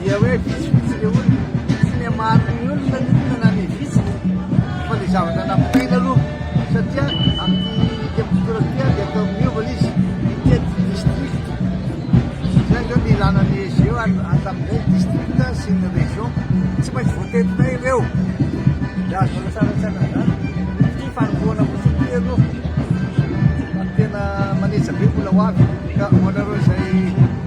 Dia hoe vitsivitsy le olona, tsy le maro ny olona ny olona na ny vitsy fa le zavatra nampitaina aloha satria amin'ny tebitolak'ia dia atao miova le izy mitety district zay zao ny ilana ny ezy eo ary atamin'izay ny district sy ny région tsy maintsy voatetinay ireo raha zao tsaratsara zany ity fanombohana fotsiny ity aloha ary tena manetsa be mbola ho avy ka ho anareo izay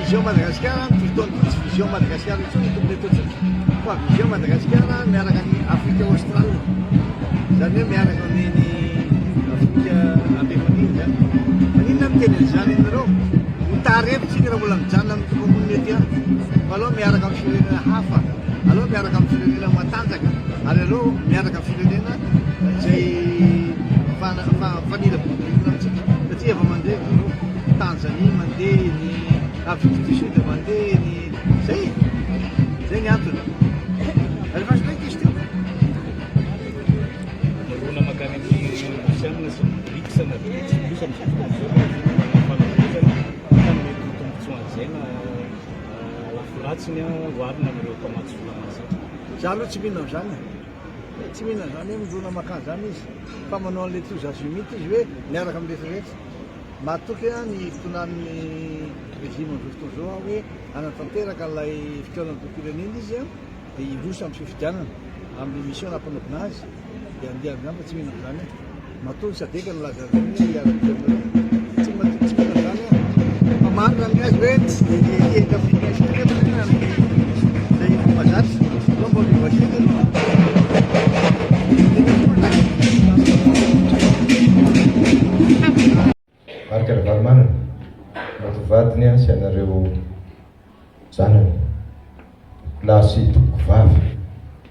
Vision Madagasikara no toy itony, tsy Vision Madagasikara intsony ny tokony ataontsika fa Vision Madagasikara miaraka ny Afrika Aostrale, izany hoe miaraka amin'iny Afrika Amerôna iny izany. Maninona aho miteny an'izany aminareo? Ho tara eto isika raha mbola mijanona amin'ity komonina ity ihany fa aleo miaraka amin'ny firenena hafa, aleo miaraka amin'ny firenena matanjaka ary aleo miaraka amin'ny firenena izay mifana- mifanila-bodirindrina amintsika satria efa mandre izy ireo. Tanzanie mandeha, ny Afrique du Sud mandeha, ny zay e! Zay ny antony. Alevage ndray question. Mirona makany amin'ny Rosiana sy ny BRICS na BRICS plus amin'izao fotoana izao fa manam-pahaizana hita ny mety ho tombontsoan'izay na lafy ratsiny oharina amin'ireo mpamatsy vola mahazatra. Za aloha tsy mino an'izany e! Tsy mino an'izany hoe mirona makany izany izy fa manao an'ilay toa Zazimity izy hoe miaraka amin'ny rehetra rehetra. Mahatoky ny fitonan'ny régime amin'izao fotoana izao hoe hanatanteraka ilay fikaonandoham-pirenena izy dia hiroso amin'ny fifidianana amin'ny mission nampanaovina azy dia andiany izany fa tsy mihinana izany aho. Matoa ny sadc nilaza an'ireny hoe hiara-dia aminareo. Tsy mba tsy mihinana izany aho. Fa marina ny azy hoe tsy dia hiendry amin'ny firenena intsony anefa ny amin'ny izay efa mahazatra. Marc Ravalomanana mety ho vadiny aho sy anareo zanany, tompoko lahy sy tompoko vavy.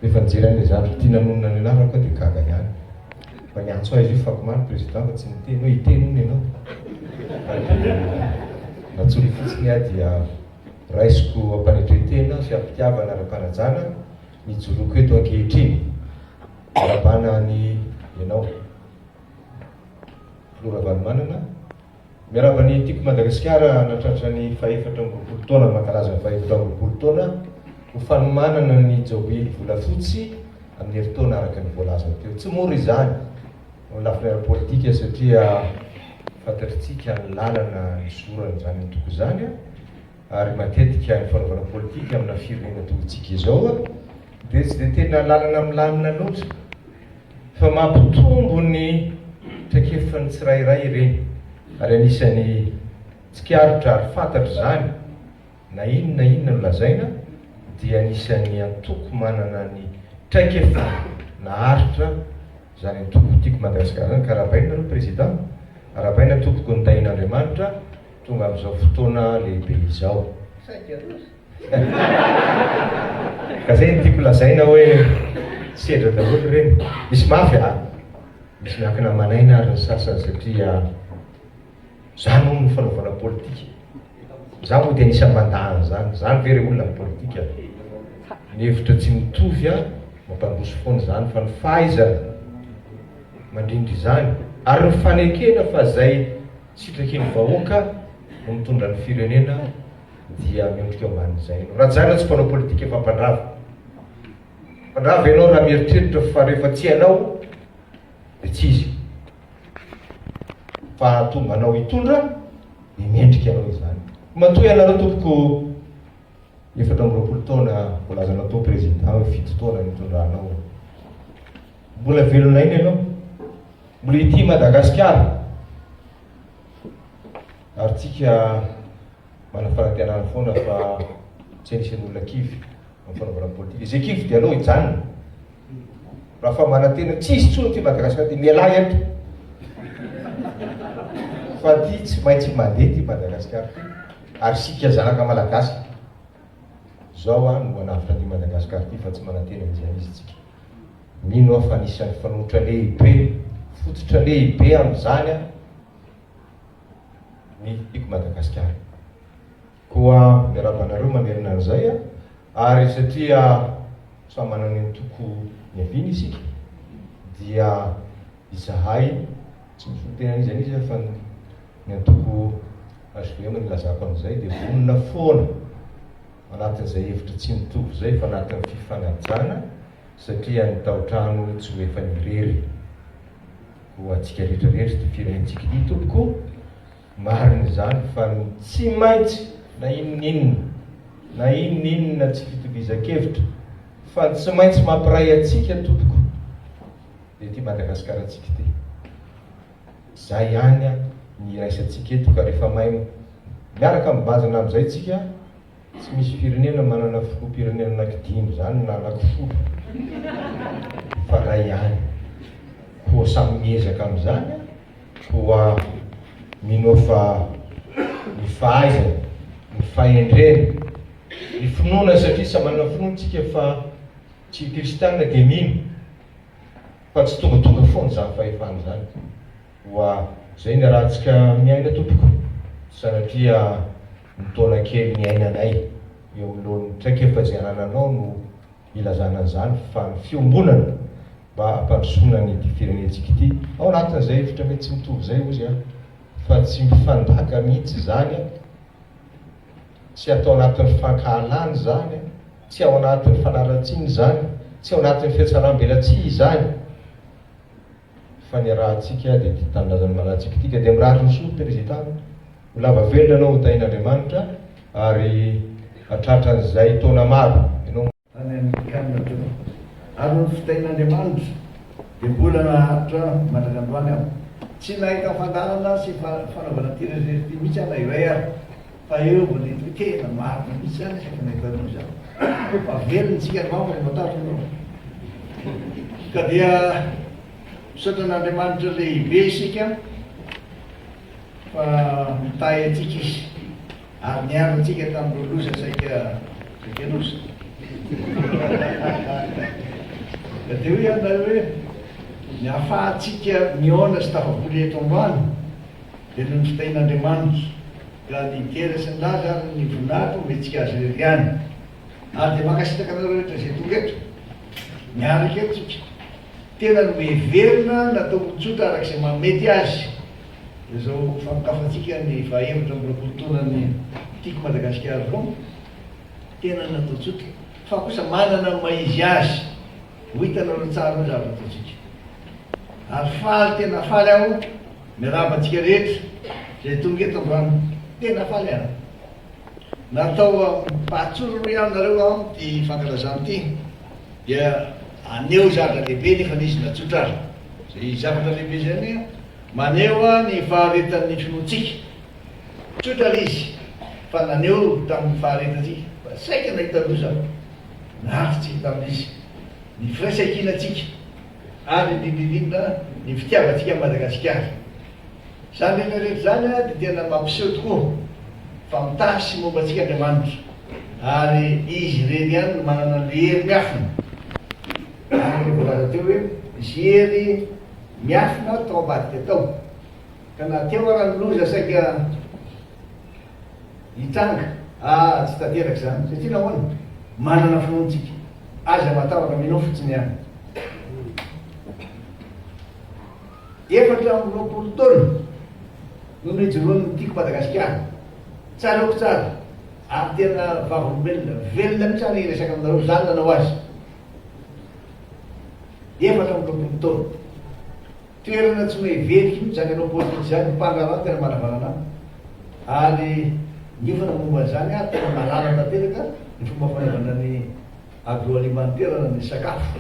Rehefa nijery an'ilay zavatra ity nanonona ny anarako aho dia gaga ihany. Mba niantso ahy izy io fako maro Président fa tsy niteny hoe hiteny hono ianao. Natsoiny fotsiny aho dia. Raisiko am-panetren-tena sy am-pitiavana ara-panajana ny joroko eto ankehitriny. Miarabana any ianao, Filoha Ravalomanana. Miaraba ny Tiko Madagasikara nahatratra ny fahefatra amby roapolo taona mankalaza ny fahefatra amby roapolo taona ho fanomanana ny Jaobily volafotsy amin'ny herintaona araka ny voalazany teo. Tsy mora izany. amin'ny lafiny ara-politika satria fantatritsika ny lalana nisorany izany antoko izany ary matetika ny fanaovana politika amina firenena toa antsika izao dia tsy dia tena lalana milamina loatra fa mampitombo ny traikefan'ny tsirairay ireny ary anisan'ny tsikaritra ary fantatra izany na inona na inona no lazaina dia anisan'ny antoko manana ny traikefa naharitra izany antoko Tiako Madagascar izany ka arahabaina nareo Président, arahabaina tompoko ny Tahian'Andriamanitra tonga amin'izao fotoana lehibe izao. Ka izay no tiako lazaina hoe sedra daholo ireny. Misy mafy a! Misy miankina aman'aina ary ny sasany satria Za moa no fanaovana politika? Za moa dia anisan'ny mandà an'izany? Zany ve re olona ny politika? Ny hevitra tsy mitovy an, mampandroso foana izany fa ny fahaizana mandrindra izany ary ny fanekena fa izay sitrakin'ny vahoaka no mitondra ny firenena dia miondrika ambanin'izay ianao. Rajaina tsy mpanao politika fa mpandrava. Mpandrava ianao raha mieritreritra fa rehefa tsy ianao vitsy izy. Fa hahatonga anao hitondra ny mendrika anao izany. Matoa ianareo tompoko efatra amby roapolo taona voalazanao teo Président hoe fito taona nitondranao. Mbola velona aina ianao. Mbola hitia Madagasikara. Ary tsika manafanantenana foana fa tsy anisan'ny olona kivy amin'ny fanaovana politika. Izay kivy dia aleo hijanona. Raha fa manantena tsy hisy intsony ity Madagascar ity, mialà eto fa ity tsy maintsy mandeha ity Madagascar ity ary isika zanaka Malagasy zao aho no manavotra ity Madagascar ity fa tsy manantena an'izay izy tsika. Mino aho fa anisan'ny fanoitra lehibe, fototra lehibe amin'izany ny Piko Madagascar. Koa miarahaba anareo manerana an'izay a! Ary satria samy manana ny toko niaviany isika dia izahay tsy misolo tena an'iza n'iza fa ny ny antoko HVM no ilazako an'izay dia vonona foana anatin'izay hevitra tsy mitovy izay fa anatin'ny fifanajana satria ny taotrano tsy ho efan'irery ho antsika rehetra rehetra ity firenentsika ity tompoko Marina izany fa ny tsy maintsy na inoninona na inoninona tsy fitovizankevitra fa ny tsy maintsy mampiray antsika tompoko dia ity Madagasikarantsika ity. Izay ihany ny iraisantsika eto ka rehefa mahay miaraka mibazana amin'izay tsika Tsy misy firenena manana filoham-pirenena anaky dimy zany na anaky folo fa ray ihany. Koa samy miezaka amin'izany an! Koa minoa fa ny fahaizana, ny fahendrena, ny finoana satria samy manana finoana tsika fa tsy kristiana dia mino fa tsy tongatonga foana izany fahefana izany. Oa zay ny ratsika miaina tompoko sanatria ny taona kely niainanay eo anoloan'ny traikefa izay anananao no ilazana an'izany fa ny fiombonana mba hampandrosoana an'ity firenentsika ity ao anatin'izay hevitra mety tsy mitovy izay hozy aho fa tsy mifandaka mihitsy izany an! tsy atao anatin'ny fankahalana izany an! tsy ao anatin'ny fanaratsiana izany, tsy ao anatin'ny fihatsaram-belatsihy izany. fa ny ratsika dia tia tanindrazany malatsik tika dia mirary ny soa president ho lava velona anao ho tahin Andriamanitra ary hatratran'izay taona maro ianao any amerikana teo ary ny fitahin Andriamanitra dia mbola naharitra mandraka androany aho tsy nahita fandaharana sy fanaovana ity rehetra rehetra ity mihitsy aho na iray ary Fa eo vao le tokena marina mihitsy an izay mahita anao izany. Fa very ny tsika angamba no matahotra anao. Ka dia misaotra an'Andriamanitra lehibe isika fa mitahy antsika izy ary niaro antsika tamin'ireo loza saika saika loza. Ka dia hoy aho nareo hoe ny ahafahantsika mihaona sy tafabory eto ambany Velon'ny fitahian'Andriamanitra, ka ny Tera sy ny Laza ary ny Voninahitra homentsika Azy irery ihany. Ary dia mankasitraka anareo rehetra izay tonga eto, miaraka eto tsika. Tena no heverina natao ho tsotra araka izay mahamety azy izao famokafantsika ny faha efatra amby roapolo taonan'ny Tiako Madagasikara-ko. Tena natao tsotra, fa kosa manana ny maha izy azy. Ho hitanareo ny tsara hoy zavatra ataontsika. Ary faly tena faly aho miarahaba antsika rehetra izay tonga eto androany. Tena faly aho. Natao fahatsorana hoy aho nareo aho ity fankalazana ity dia aneho zavatra lehibe nefa nisy natsotra ahy. Izay zavatra lehibe izay anie maneho ahy ny faharetan'ny finoantsika. Tsotra ilay izy fa naneho tamin'ny faharetantsika fa saika nahita loza aho. lavitry ny tamin'izy ny firaisankinantsika ary indrindra indrindra ny fitiavantsika an'i Madagasikara. Izany rehetra rehetra izany dia tena mampiseho tokoa fa mitahy sy momba antsika Andriamanitra ary Izy irery ihany no manana ny hery miafina. Araka ny voalaza teo hoe nisy hery miafina tao ambadika tao ka na teo ara ny loza saika Hitranga. Ah tsy tanteraka izany. Satria nahoana? Manana finoana tsika. Aza matahotra, mino fotsiny ihany. Efatra amby roapolo taona no nijoroan'ny Tiako Madagasikara. Tsaroako tsara. Ary tena vavolombelona. Velona mihitsy aho hiresaka aminareo izany nanao azy. Efatra amby roapolo taona. Toerana tsy mahay very intsony izany hanao politika izany ny mpandraharaha no tena manavanana ary niofana momba izany ary tena marara tanteraka ny fomba fanaovana ny agroalimantera ny sakafo,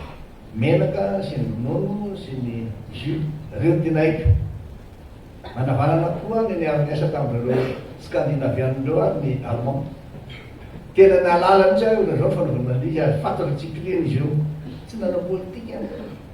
menaka sy ny ronono sy ny jus ireo no tena haiko. Manavanana koa ny niara-niasa tamin'ireo Scandinavian ireo ary ny Allemand. Tena nahalala mihitsy aho ohatr'izao ny fanaovana an'ilay izy ary fantatra tsy kilian'izy ireo. Tsy nanao politika.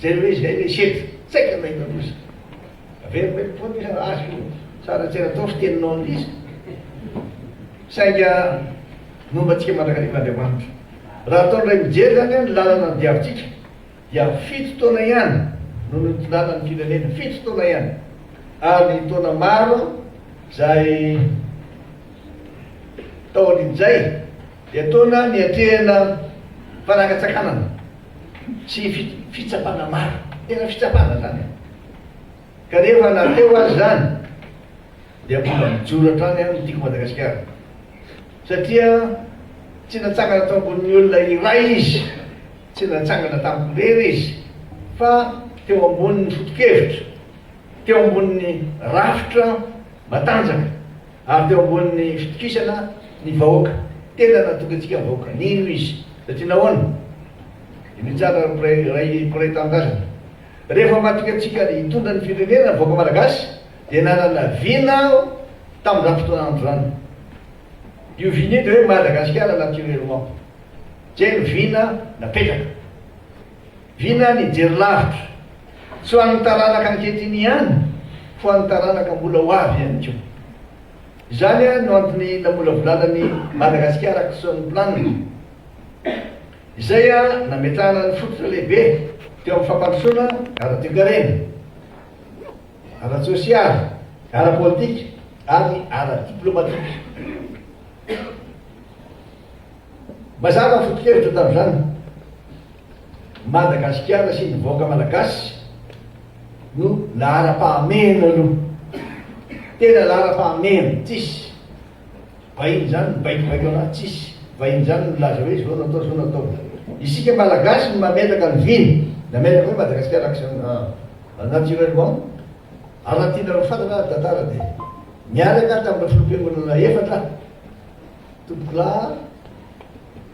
Jereo hoe izay ve izy eto? Tsaika mahita loza. Averiko eto foana izy raha azo io. Tsara tsy natao fiteninao ny izy. Sainga nomba antsika mandrakariva Andriamanitra. Raha atao indray mijery izany hoe ny lalana nodiavintsika dia fito taona ihany no nitondana ny firenena. Fito taona ihany. Ary ny taona maro izay taorian'izay dia taona niatrehana fanakantsakanana. Tsy fitsapana maro. Tena fitsapana zany e. Kanefa na teo aza zany dia mbola mijoro hatrany an ny Tiako Madagasikara. Satria tsy natsangana tao ambonin' ny olona iray izy, tsy natsangana tamiko irery izy, fa teo ambonin' ny foto-kevitra, teo ambonin' ny rafitra matanjaka Ary teo ambonin'ny fitokisana ny vahoaka, tena natoky antsika ny vahoaka. Nino izy. Satria nahoana? I Mitsara ary mpiray iray mpiray tanindrazana. Rehefa matoky antsika hitondra ny firenena ny vahoaka malagasy, dia nanana vina aho tamin'izany fotoana andro izany. Io vina io dia hoe Madagasikara naturellement. Izay no vina napetraka. Vina ny hijery lavitra. Tsy ho an'ny taranaka ankehitriny ihany, ho an'ny taranaka mbola ho avy ihany koa. Izany no antony namolavolana ny Madagascar Action Plan, izay nametrahana ny fototra lehibe teo amin'ny fampandrosoana ara-toekarena, ara-tsosialy, ara-politika ary ara-diplomatika. Mazava ny foto-kevitra tamin'izany. Madagasikara sy ny vahoaka malagasy no laharam-pahamehana aloha. Tena laharam-pahamehana, tsisy vahiny izany mibaikobaiko an'ahy, tsisy vahiny izany milaza hoe zao no atao, zao no atao. Isika malagasy no mametraka ny viny, nametraka hoe Madagasikara action ah naturellement ary raha tianareo fantatra ary tantara dia niaraka tamin'ireo filoham-piangonana efatra, Tompokolaha,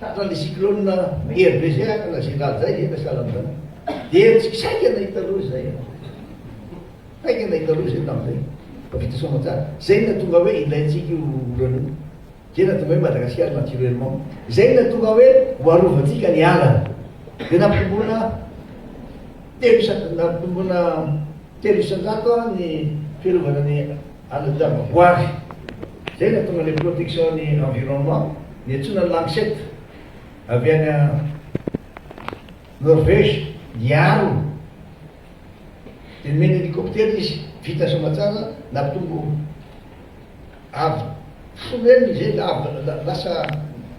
Tratran' ny cyclone RBG ka na zay raha zay efa sahala amin' izany. Dia herijky saika nahita loza izay aho. Saika nahita loza izay tamin' izay. Fa vita soa aman-tsara. Izay no nahatonga hoe ilaintsika io olana io. Izay no nahatonga hoe Madagasikara naturellement. Izay no nahatonga hoe ho arovantsika ny ala. Dia nampitomboina telo isan-jato ny fiarovana ny. Hanadiavako ary. Izay no hahatonga ilay protection ny environnement, ny antsoina ny Lancet avy any Norvège hiaro. Dia nomena hélicoptère izy, vita soa tsara, nampitombo avo folo eny izay lavo lasa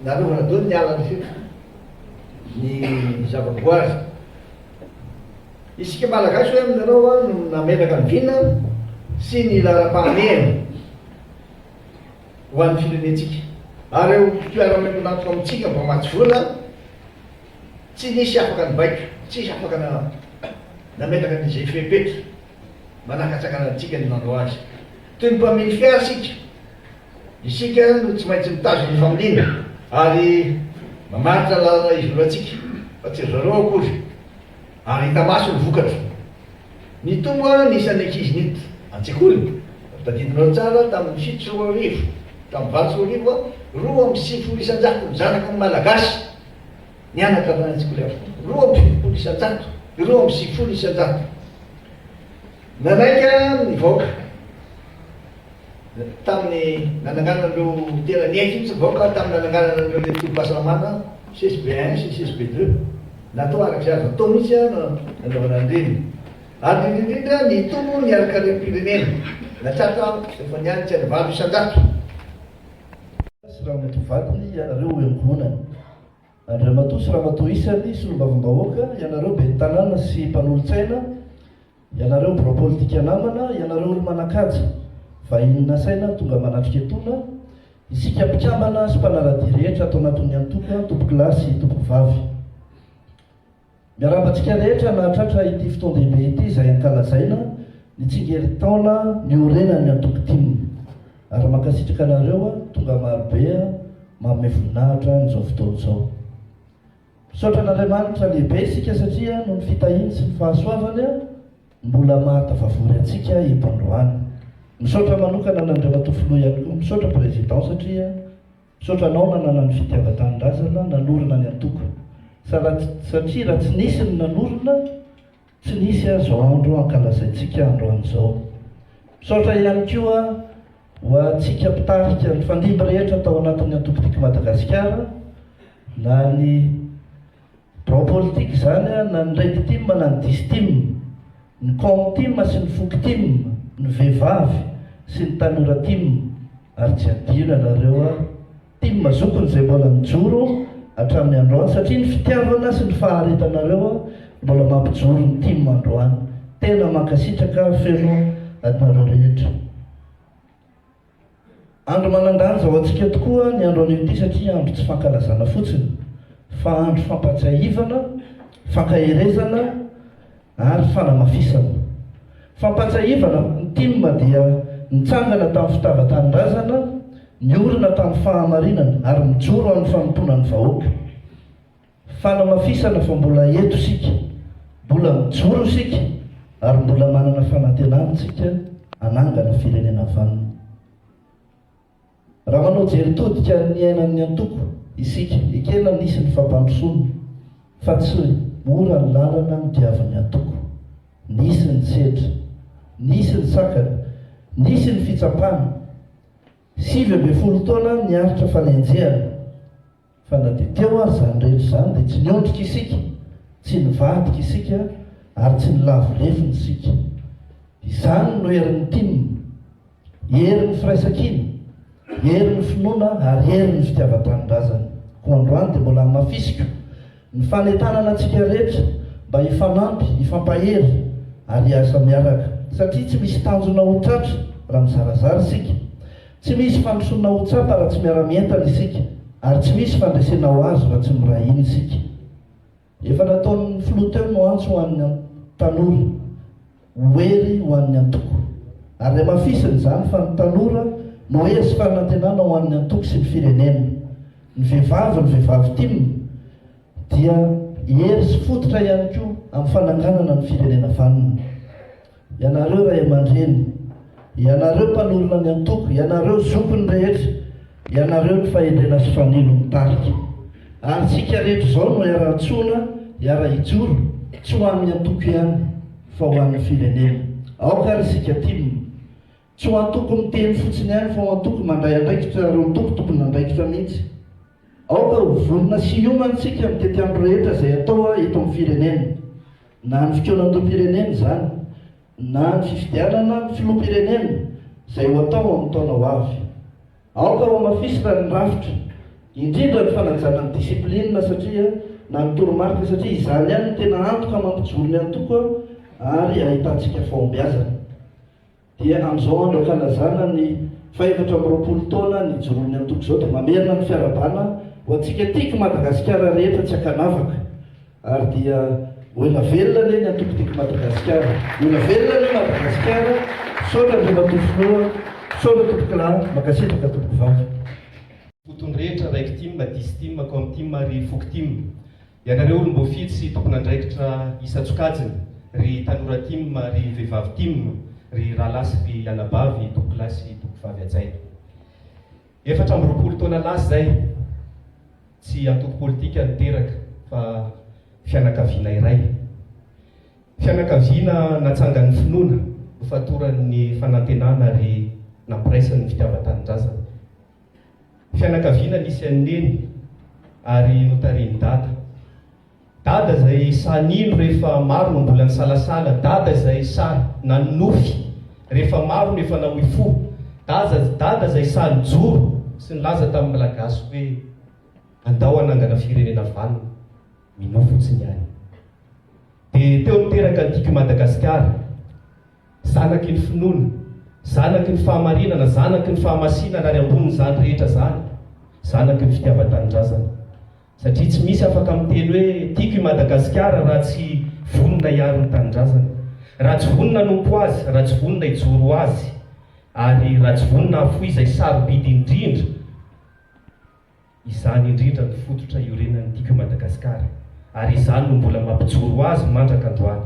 narovana daholo ny ala rehetra ny zavaboary. Isika Malagasy ve aminareo no nametraka ny vina sy ny laharam-pahamehana ho an'ny firenentsika? Ary ireo mpiara-miombon'antoka amintsika mpamatsy vola tsy nisy afaka nibaiko, tsy nisy afaka nametraka an'izay fepetra manakatsakana antsika ny nanao azy. Toy ny mpamily fiara isika, isika no tsy maintsy mitazona ny familiana ary mamaritra ny lalana izoroantsika fa tsy ry zareo akory. ary hita maso ny vokatra. Nitombo ny isan'ny ankizy niditra an-tsekoly, raha tadidinareo tsara, tamin'ny fito sy roa arivo tamin'ny valo sy roa arivo, roa amby sivifolo isan-jato ny zanaky ny Malagasy nianatra avy any an-tsekoly avokoa, roa amby fitopolo isan-jato, roa amby sivifolo isan-jato. Nanaiky ny vahoaka. tamin'ny nananganan'ireo tena niaiky mihitsy ny vahoaka tamin'ny nananganan'ireo ilay tobim-pahasalamana CSB un sy CSB deux. Natao araka izay azo atao mihitsy no nanaovana an'ireny. Ary indrindra indrindra ny tombony ny ara-karem-pirenena. Natratra efa nihanitra ny valo isan-jato. sy Ramatoa vadiny ianareo ho emponany. Andriamatoa sy Ramatoa isany solombavambahoaka ianareo ben'ny tanàna sy mpanolotsaina. Ianareo birao politika namana, ianareo olo-manan-kaja, vahiny nasaina tonga manatrika etona, isika mpikambana sy mpanara-dia rehetra ato anatin'ny antoko Antokolahy sy Antokovavy. Miarahaba antsika rehetra nahatratra ity fotoan-dehibe ity izay ankalazaina ny tsingerin-taona niorenan'ny antoko tim, ary mankasitraka anareo tonga marobe manome voninahitra amin'izao fotoana izao. Misaotra an'Andriamanitra lehibe isika satria noho ny fitahiany sy ny fahasoavany mbola mahatafavory antsika eto androany. Misaotra manokana an'Andriamatoa Filoha ihany koa, misaotra Président satria misaotra anao nanana ny fitiavan-tanindrazana nanorina ny antoko. Satria raha tsy nisy ny nanorina, Tsy nisy azo andro hankalazaintsika androany izao. Misaotra ihany koa ho antsika mpitarika nifandimby rehetra tao anatin'ny Antoko Tiako Madagasikara, na ny birao politika izany, na ny Reditim na ny Distim, ny Comtim sy ny Foktim, ny Vehivavy sy ny Tanoratim, ary tsy adino ianareo. Tim zokiny zay mbola mijoro hatramin'ny androany satria ny fitiavana sy ny faharetanareo mbola mampijoro ny tim androany tena mankasitraka feno adinareo rehetra andro manandanja ho antsika tokoa ny andro anio ity satria andro tsy fankalazana fotsiny fa andro fampatsiahivana fankaherezana ary fanamafisana. Fampahatsiahivana, ny tim dia nitsangana tamin'ny fitavan-tanindrazana, niorina tamin'ny fahamarinana ary mijoro amin'ny fanompoana ny vahoaka. Fanamafisana fa mbola eto isika, mbola mijoro isika ary mbola manana fanantenana isika hanangana firenena vanona. Raha manao jery todika ny niainan'ny antoko isika, ekena nisy ny fampandrosoana, fa tsy mora ny lalana nodiavin'ny antoko. Nisy ny sedra, nisy ny sakana, nisy ny fitsapana. Sivy ambin'ny folo taona niaritra fanenjehana. Fa na dia teo ary izany rehetra izany dia tsy niondrika isika, tsy nivadika isika ary tsy nilavo lefona isika. Izany no herin'ny tim, herin'ny firaisankina, herin'ny finoana ary herin'ny fitiavan-tanindrazana. Koa androany dia mbola hamafisiko Ny fanentanana antsika rehetra mba hifanampy, hifampahery ary hiasa miaraka. Satria tsy misy tanjona ho tratra raha mizarazara isika. Tsy misy fandrosoana ho tsapa raha tsy miara-mientana isika ary tsy misy fandresena ho azo raha tsy miray hina isika. Efa nataon'ny Filoha teo no antso ho an'ny tanora. ho hery ho an'ny antoko. Ary hamafisina izany fa ny tanora no hery sy fanantenana ho an'ny antoko sy ny firenena. Ny vehivavy, ny vehivavy tim, dia hery sy fototra ihany koa amin'ny fananganana ny firenena vanona. Ianareo ray aman-dreny, ianareo mpanorina ny antoko, ianareo zokiny rehetra, Ianareo ny fahendrena sy fanilo mitarika. Ary isika rehetra izao no iara-antsoina hiara hijoro, tsy ho an'ny antoko ihany, fa ho an'ny firenena. Aoka ary isika tim. Tsy ho antoko miteny fotsiny ihany fa ho antoko mandray andraikitra ary ho antoko tompon'andraikitra mihitsy. Aoka ho vonona sy hiomana isika mitety andro rehetra izay atao eto amin'ny firenena. Na ny fikaonandoham-pirenena izany. na ny fifidianana ny filoham-pirenena izay ho atao amin'ny taona ho avy. Aoka hohamafisina ny rafitra, indrindra ny fanajana ny discipline satria na ny toromarika satria izany ihany no tena antoka mampijoro ny antoko ary ahitantsika fahombiazana. Dia amin'izao andro ankalazana ny fahefatra amby roapolo taona nijoroan'ny antoko izao dia mamerina ny fiarahabana ho antsika tiako Madagasikara rehetra tsy ankanavaka. Ary dia ho ela velona anie ny antoko Tiako Madagasikara. Ho ela velona anie Madagasikara. Misaotra Andriamatoa Filoha. Misaotra Tompokolahy. Mankasitraka Tompokovavy. Ho tony rehetra raiky tim, dix tim, com tim ary foko tim. Ianareo olom-boafidy sy tompon'andraikitra isan-tsokajiny, ry tanora tim, ry vehivavy tim, ry rahalahy sy ry anabavy, Tompokolahy sy Tompokovavy hajaina. Efatra amby roapolo taona lasa izay, tsy antoko politika no teraka fa fianakaviana iray. Fianakaviana natsangan'ny finoana, nofatoran'ny fanantenana ary nampiraisan'ny fitiavan-tanindrazana. Fianakaviana nisy an'i Neny ary notarihin'i Dada. Dada zay sahy nino rehefa maro no mbola nisalasala Dada zay sahy nanonofy rehefa maro no efa nahoy fo Dada dada zay sahy nijoro sy nilaza tamin'ny Malagasy hoe andao hanangana firenena vanona Minoa fotsiny ihany Dia teo niteraka ny tiako i Madagasikara Zanaky ny finoana Zanaky ny fahamarinana Zanaky ny fahamasinana Ary ambonin'izany rehetra zany Zanaky ny fitiavan-tanindrazana Satria tsy misy afaka miteny hoe tiako i Madagasikara raha tsy vonona hiaro ny tanindrazana, raha tsy vonona hanompo azy, raha tsy vonona hijoro ho azy, ary raha tsy vonona hahafoy izay sarobidy indrindra, izany indrindra no fototra iorenan'ny Tiako i Madagasikara, ary izany no mbola mampijoro azy mandraka androany.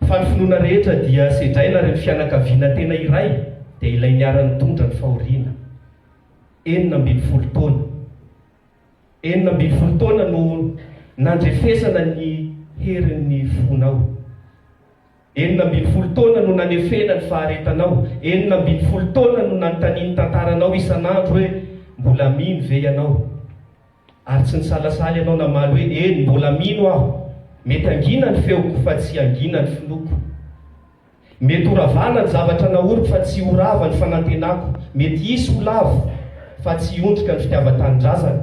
Fa ny finoana rehetra dia sedraina ary ny fianakaviana tena iray dia ilay niara-nitondra ny fahoriana. Enina ambin'ny folo taona. Enina ambin'ny folo taona no nandrefesana ny herin'ny fonao. Enina ambin'ny folo taona no nanefena ny faharetanao. Enina ambin'ny folo taona no nanontanian'ny tantaranao isan'andro hoe mbola mino ve ianao. Ary tsy nisalasala ianao namaly hoe, Eny, mbola mino aho. Mety hangina ny feoko, fa tsy hangina ny finoako. Mety ho ravana ny zavatra nahoriko, fa tsy ho rava ny fanantenako. Mety hisy ho lavo, fa tsy hiondrika ny fitiavan-tanindrazana.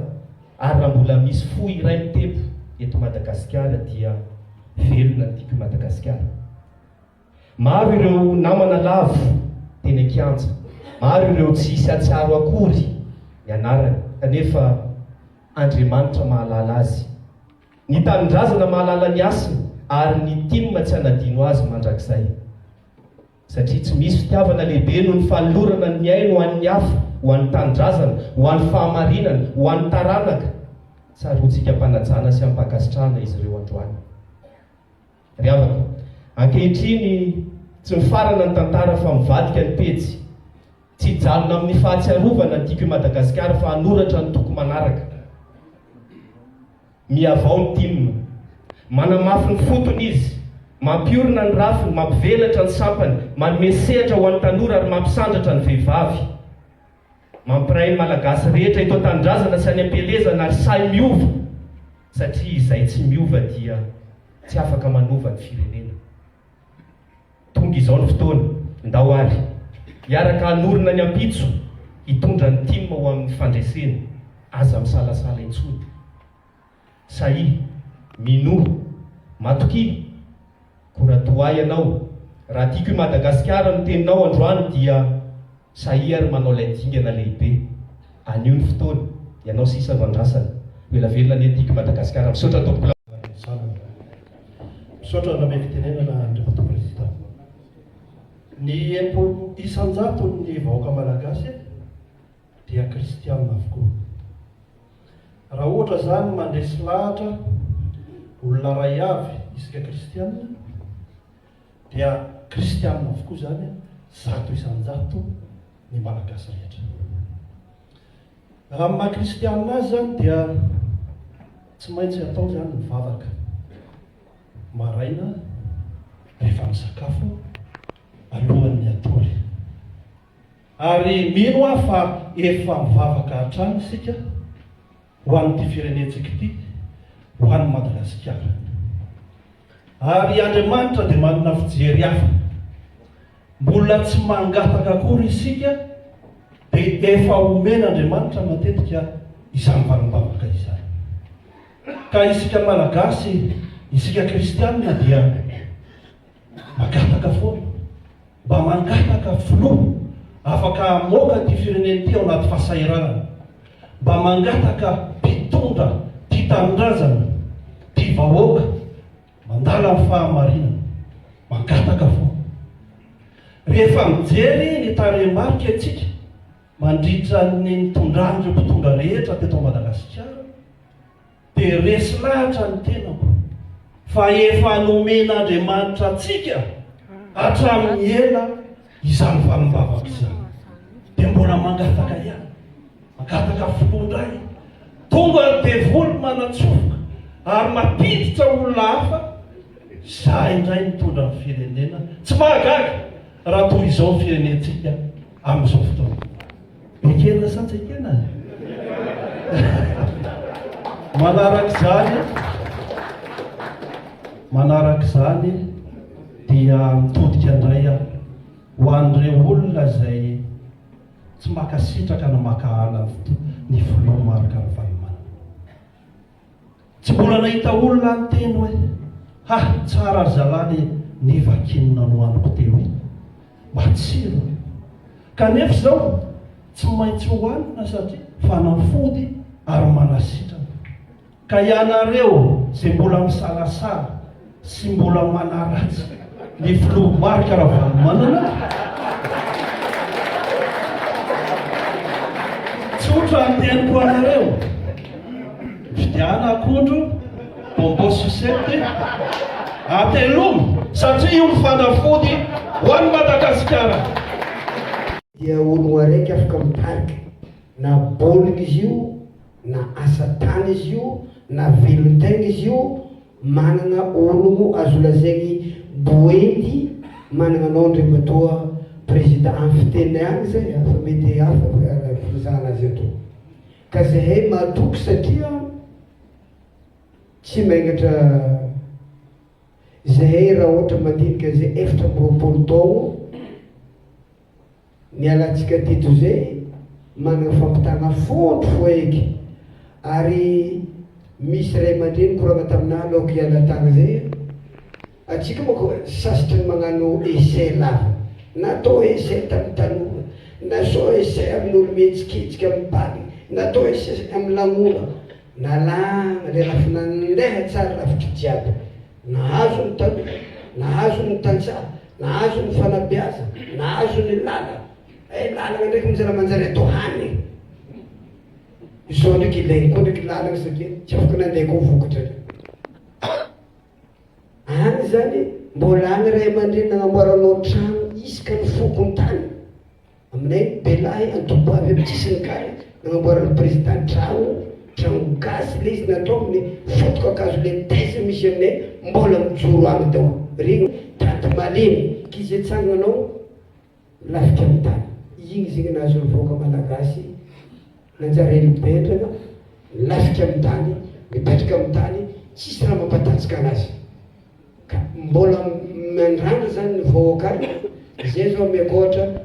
Ary raha mbola misy fo iray mitempo eto Madagasikara, dia velona ny tiako i Madagasikara. Maro ireo namana lavo teny an-kianja, maro ireo tsy hisy hahatsiaro akory ny anarany, kanefa Andriamanitra mahalala azy. Ny tanindrazana mahalala ny hasiny ary ny tim tsy hanadino azy mandrakizay. Satria tsy misy fitiavana lehibe noho ny fanolorana ny ainy ho an'ny hafa, ho an'ny tanindrazana, ho an'ny fahamarinana, ho an'ny taranaka. Tsaroantsika am-panajana sy am-pankasitrahana izy ireo androany. Ry havako, ankehitriny tsy mifarana ny tantara fa mivadika ny pejy. Tsy hijanona amin'ny fahatsiarovana Tiako i Madagasikara fa hanoratra ny toko manaraka. Mihavao ny tim. Manamafy ny fotony izy. Mampiorina ny rafiny, mampivelatra ny sampany, manome sehatra ho an'ny tanora ary mampisandratra ny vehivavy. Mampiray ny Malagasy rehetra eto an-tanindrazana sy any am-pielezana ary sahy miova satria izay tsy miova dia tsy afaka manova ny firenena. Tonga izao ny fotoana, ndao ary hiaraka hanorina ny ampitso hitondra ny tim ho amin'ny fandresena, aza misalasala intsony. Sahy, minoa, matokia, kora toa ahy ianao, raha tiako i Madagasikara no teninao androany dia sahy ary manao ilay dingana lehibe, anio ny fotoana, ianao sisa no andrasana, ho ela velona anie ny tiako i Madagasikara, misaotra tompoko la. Misaotra nanome fitenenana Andriamatoa Prezida. Ny enimpolo isan-jaton'ny vahoaka Malagasy e! dia kristiana avokoa. Raha ohatra izany mandresy lahatra olona iray avy isika kristiana dia kristiana avokoa izany zato isan-jato ny malagasy rehetra. Raha ny maha kristiana azy izany dia tsy maintsy atao izany ny vavaka maraina rehefa misakafo alohan'ny hatory. Ary mino aho fa efa mivavaka hatrany isika ho an'ity firenentsika ity, ho an'i Madagasikara. Ary Andriamanitra dia manana fijery hafa. Mbola tsy mangataka akory isika dia efa omen'Andriamanitra matetika izany valim-bavaka izany. Ka isika Malagasy, isika Kristianina dia. Na mangataka foana. Mba mangataka filoha afaka hamoaka ity firenena ity ao anaty fahasahiranana. Mba mangataka mpitondra tia tanindrazana, tia vahoaka, mandala ny fahamarinana. Mangataka foana. Rehefa mijery ny tarehimarika isika mandritra ny nitondran'ireo mpitondra rehetra teto Madagasikara, dia resy lahatra ny tenako fa efa nomen'Andriamanitra antsika hatramin'ny ela izany valim-bavaka izany. Dia mbola mangataka ihany, mangataka filoha indray. Tonga ny devoly manatsofoka ary mampiditra olona hafa, za indray mitondra ny firenena. Tsy mahagaga raha toy izao ny firenentsika amin'izao fotoana. Ekena sa tsy ekena? Manaraka izany, manaraka izany dia mitodika indray aho ho an'ireo olona izay tsy mankasitraka na maka ala ny filoha Marc Ravalomanana. Tsy mbola nahita olona niteny hoe, Ha, tsara ry zalahy le ny vakin'ny nanohaniko teo iny. Matsiro e! Kanefa izao, tsy maintsy hohanina satria fanafody ary manasitrana. Ka ianareo izay mbola misalasala, Tsy mbola manaratsy ny filoha Marc Ravalomanana aho. Tsotra ny teniko anareo. Mifidiana akondro, bonbon sucette, atelomy satria io ny fanafody ho an'i Madagasikara. Dia ologno araiky afaka mitarika na baolina izy io, na asa tany izy io, na velon-tegna izy io, Manana olo azo lazaigny boendy managna anao ndre matoa prezida an fiteny agny zay hafa mety hafa fa raha fizahana azy eto ka zahay matoky satria tsy maingatra zahay raha ohatra mandinika zay efatra amby roapolo taogno Nialantsika teto izay manana fampitana fondro foheky ary misy ray aman-dreny nikorana taminah aloako hiala tany izay an! Antsika manko sasitry ny magnano essai lava, natao essai tamin'ny tanora, nasao essai amin'ny olo-mihetsiketsika, amin'ny bala, natao essai amin'ny lanonana, nalana ilay rafi-nandeha tsara rafitra jiaby. Nahazo ny tanora, nahazo ny tantsaha, nahazo ny fanabeazana, nahazo ny lalana. Eh, lalana ndraiky mizara manjary atao hany e! Izao ndraiky ilainy koa ndraiky lalana satria tsy afaka nandeha koa vokatra ndraiky. Any zany mbola any ray aman-dreny nanamboaranao trano isaka ny fokontany. Aminay ny be lahy andoto avy amin'ny sisiny kary nanamboaran'ny président trano, trano gasy ilay izy natao amin'ny fotoka kazo ilay thèse misy aminay mbola mijoro any daholo ry tady malemy k'i zay tsanganao lafika amin'ny tany iny zegny nahazo ny vahoaka malagasy nanjary elo bendrana milafika amin'ny tany mipetraka amin'ny tany tsisy raha mampatatsika anazy ka mbola miandrandra zany ny vahoaka any izay zao omeko ohatra